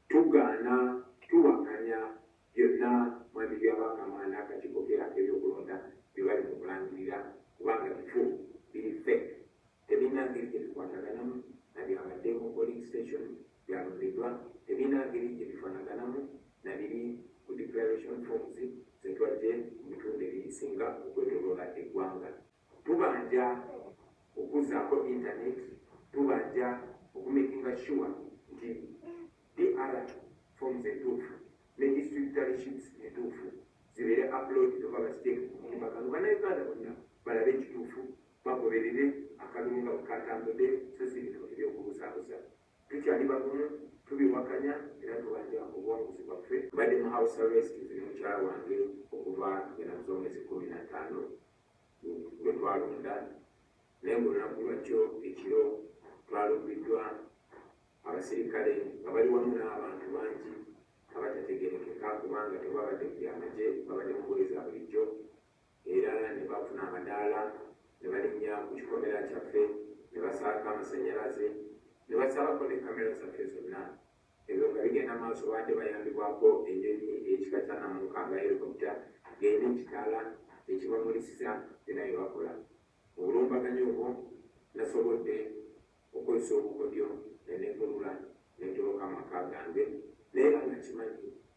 Tugaana, tuwakanya byonna Mwami Byabakama n'akakiiko ke ak'ebyokulonda bye bali mu kulangirira kubanga bifu, biri fake, tebirina ngeri gye bikwataganamu na byabadde mu polling station gyalondeddwa, tebirina ngeri gye bifanaganamu na biri ku declaration forms ze twajje mu bitundu ebisinga okwetoloola eggwanga. Tubanja okuzaako internet, tubanja oku makinga sure nti DR forms entuufu ne district tally sheets entuufu zibeere uploaded oba baziteeke ku mutimbagano banauganda bonna balabe ekituufu bagoberere akalulu nga bwekatambude so si bino ebyokubuzaabuza. Tukyali bagumu, tubiwakanya era tubanja obuwanguzi bwaffe. Mbadde mu house arrest nze ne mukyala wange okuva nga nabuza omwezi kkumi na ttaano gwe twalonda naye ng'olunaku lwajjo ekiro twalumbiddwa abasirikale nga bali wamu n'abantu bangi abatategerekeka kubanga tebabadde ku byamagye babadde mu ngoye za bulijjo era ne bafuna amadaala ne balinnya ku kikomera kyaffe ne basaako amasanyalaze ne basalako ne kamera zaffe zonna. Ebyo nga bigenda maaso baadde bayambibwako enyonyi eyekika kya Namuka nga helicopter ng'erina ekitaala ekibamulisiza byonna bye bakola. Mu bulumbaganyi obwo nasobodde okukozesa obukodyo ne negulula ne ntoloka amaka gange naye era nga nkimanyi